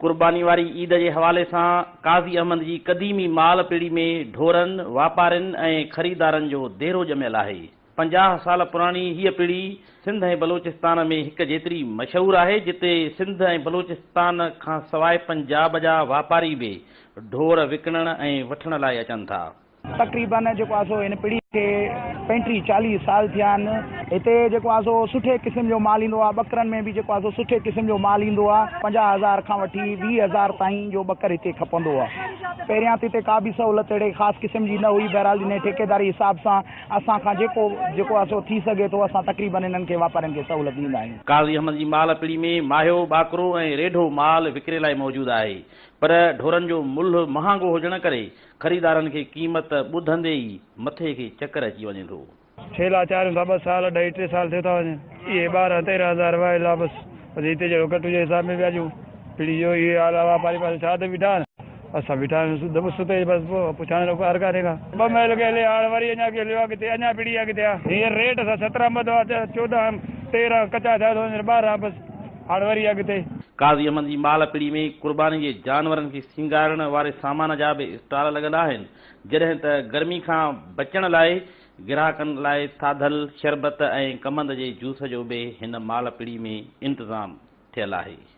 قرباني واري عيد جي حوالي سان قاضي احمد جي قديمي مال پيڙهي ۾ ڍورن، واپارين ۽ خريدارن جو ديرو ڄميل آهي. پنجاهه سال پراڻي هيء پڙي سنڌ ۽ بلوچستان ۾ هڪ جيتري مشهور آهي، جتي سنڌ ۽ بلوچستان کان سواء پنجاب جا واپاري به ڍور وڪڻڻ ۽ وٺڻ لاء اچن ٿا. تقريباً جيڪو آهي سو هن پڙي کي پنٽيهه چاليهه سال ٿيا آهن. هتي جيڪو آهي سو سٺي قسم جو مال ايندو آهي. ٻڪرن ۾ به جيڪو آهي سو سٺي قسم جو مال ايندو آهي. پنجاهه هزار کان وٺي ويهه هزار تائين جو ٻڪر هتي کپندو آهي. پهريان ته هتي ڪا به سهولت اهڙي خاص قسم جي نه هئي، بهرحال جڏهن ٺيڪيداري حساب سان، اسان کان جيڪو جيڪو آهي سو ٿي سگهي ٿو اسان تقريبن انهن کي واپارين کي سهولت ڏيندا آهيون. قاضي احمد جي مال پڙي ۾ ماهيو، ٻاڪرو ۽ ريڍو مال وڪري لاء موجود آهي پر ڍورن جو ملهه مهانگو هجڻ ڪري خريدارن کي قيمت ٻڌندي ئي مٿي کي چڪر اچي وڃي ٿو. ڇيل آچارين سان ٻه سال اڍائي ٽي سال ٿيو ٿا وڃن اهي ٻارهن تيرهن هزار وهي لابس وڌي تي جهڙو گهٽ هجي حساب ۾ وياجون پڙي اهو ئي حال آهي واپاري پاسي ڇا ته بيٺا آهن. اسان بيٺا آهيون دٻ ستي جي بس پوء پڇاڻي لڳو ڪار ڪاري کان. ٻه ميل ڪيلي هاڻ وري اڃا ڪيلي آهي ڪٿي اڃا پڙي آهي ڪٿي آهي هينئر ريٽ سان سترهن ٻه دوا چوڏهن تيرهن ڪچا ٿيا ٿو وڃن ٻارهن بس هاڻ وري آهي ڪٿي. قاضي احمد جي مال پڙي ۾ قرباني جي جانورن کي سينگارڻ واري سامان جا به اسٽال لڳل آهن جڏهن ته گرمي کان بچڻ لاء گراهڪن لاء ٿاڌل شربت ۽ ڪمند جي جوس جو به هن مال پڙي ۾ انتظام ٿيل آهي.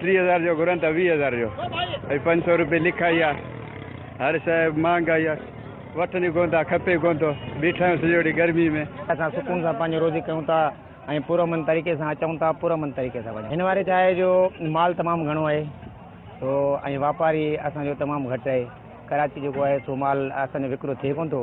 ٽي هزار جو گهرن ته ويهه هزار جو ۽ پنج سؤ روپيه لکائي آ هر شئي مهانگائي آ وٺن ئي ڪونه ٿا کپي ڪونه ٿو بيٺا آهيون سڄو ڏينهن گرمي ۾. اسان سڪون سان پنهنجي روزي ڪيون ٿا ۽ پرامن طريقي سان اچون ٿا پرامن طريقي سان وڃون ٿا هن واري ڇا آهي جو مال تمام گهڻو آهي سو ۽ واپاري اسان جو تمام گهٽ آهي ڪراچي جيڪو آهي سو مال اسان جو وڪرو ٿئي ڪونه ٿو.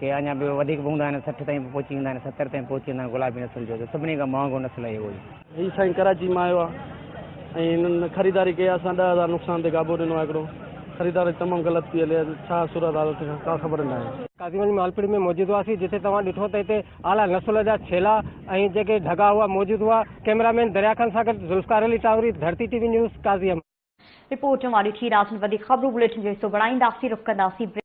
ڪي اڃا به وڌيڪ به هوندا آهن سٺ تائين به پهچي ويندا آهن ستر تائين پهچي ويندا آهن گلابي نسل جو ته سڀني کان مهانگو نسل آهي اهو ئي. هي سائين ڪراچي مان آيو آهي ۽ هنن خريداري ڪئي آهي اسان ڏهه هزار نقصان تي گابو ڏنو آهي هڪڙو خريداري تمام غلط پي هلي ڇا صورت حال اٿي ڪا خبر ناهي. قاضيگنج مالپور ۾ موجود هئاسين جتي توهان ڏٺو ته هتي اعليٰ نسل جا ڇيلا ۽ جيڪي ڍڳا هئا موجود هئا ڪئميرا مين دريا خان سان گڏ Zulfiqar Ali Tanwari Dharti T V news Qazi Ahmed. Report اوهان ڏٺي رات ۾ وڌيڪ خبرون بليٽن جو حصو بڻائينداسين رخ ڪنداسين بريڪ.